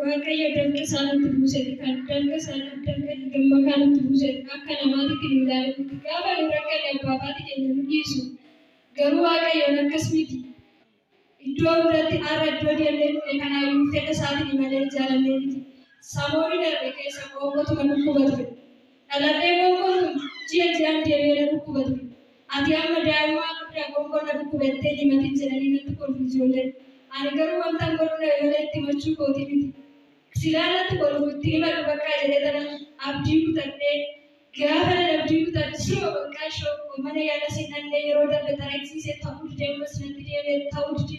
Waaqayyo dalga isaa nutti buuseef kan dalga isaa dalga gammakaa nutti buuseef akka namaatitti nu ilaale miti. Gaafa nu rakkanne abbaa abaati keenya nu dhiisu. Garuu Waaqayyoon akkas miti. Iddoo hundatti har'a iddoo deemnee dhufne kanaayyuu fedha isaatini malee jaalannee miti. Samooni darbe keessa qoonqotuma dhukkuba ture. Dhaladhee qoonqoon kun ji'a ji'aan deebi'ee na dhukkuba ture. Ati amma daa'immaa guddaa qoonqoon na dhukkube jettee hin himatin jedhanii natti kolfu ijoolleen. Ani garuu wantan godhuu dhabe malee itti himachuu kootii miti. Silaa natti kolfu itti hin himadhu baqqaa jedhee tanan abdii kutadhee. Gaafanan abdii kutadhu siruma baqqaa ishoo koo mana yaalas hin dhaqne yeroo darbe xaragisiisee ta'uu dide ammas natti deebi'e ta'uu dide.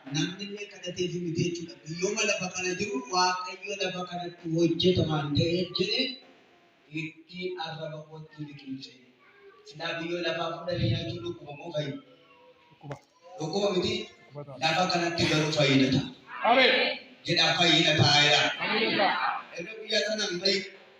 Namnillee kadhateefii miti jechuudha. Guyyooma lafa kana jiru Waaqayyo lafa kanatti hojjeta waan ta'eef jedhe itti arraba kootti liqimse. Silaa guyyoo lafaa fuudhanii nyaachuun dhukkuba moo fayyina? Dhukkuba miti. Lafa kanatti garuu fayyina ta'a. Jedhaa fayyina ta'a jedhaa. Erga guyyaa sanaan fayyina.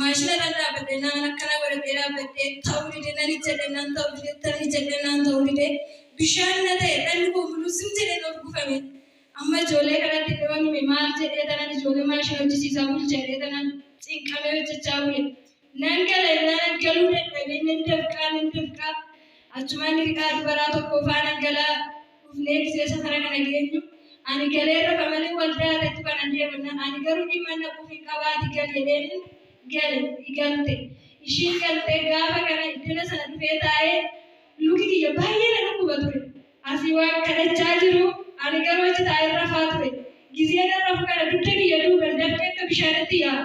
maashina irra dhaabbadhe naan akkana godhadhee dhaabbadhe ta'uu dide nan ijjadhe nan ta'uu dide tan ijjadhe naan ta'uu dide bishaan na ta'e dhalli koo muluu sim jedhee of gufame amma ijoollee kanatti dhiyoon hime maal jedhee tanan ijoollee maashina hojjisiisaa bulchadhee tanan cinqamee hojjechaa bule nan gala innaan galuu dadhabee nan dafqaa nan dafqaa achumaan hiriqaa dubaraa tokko faanan galaa dhufnee miseesa kana kana geenyu ani galee rafa malee waldaa irratti banan deemanna ani garuu dhimma naquuf hin qabaati gal jedheenin gale igalte ishiin galtee gaafa kana iddana sana dhufee taa'ee luki kiyya baay'ee na dhukkuba ture asii waan kadhachaa jiru ani garuu achi taa'ee rafaa ture gizee nan rafu kana dugda kiyya duuban dafqee akka bishaanitti yaa'a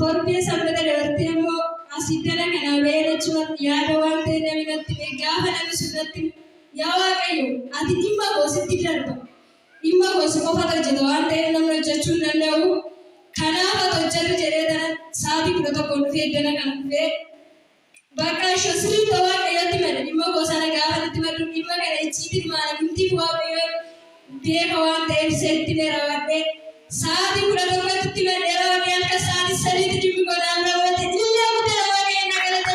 Torbee sanbata dabartee immoo as iddana kanaa ba'ee rachuurratti yaada waan ta'e nami natti ba'e gaafa nami sun natti yaa Waaqayyo ati dhimma koo sitti darba dhimma koo si qofatu hojjeta waan ta'eef namni hojjechuu hin danda'u kanaaf ati hojjedhu jedhee tanan saatii kudha tokkoon dhufee iddana kana dhufee Baqaasho, Sirrii dha Waaqayyotti mada. Dhimma koo sana gaafa natti maddu dhimma kana icciitiin maala mitiif Waaqayyoon beeka waan ta'eef seetti mee rawadhee sa'aatii kudha tokkotti itti maddee rawadhee halkan sa'aatii sadiitti dhimmi koo naaf raawwate ilillee guddaadha Waaqayyoon na galata.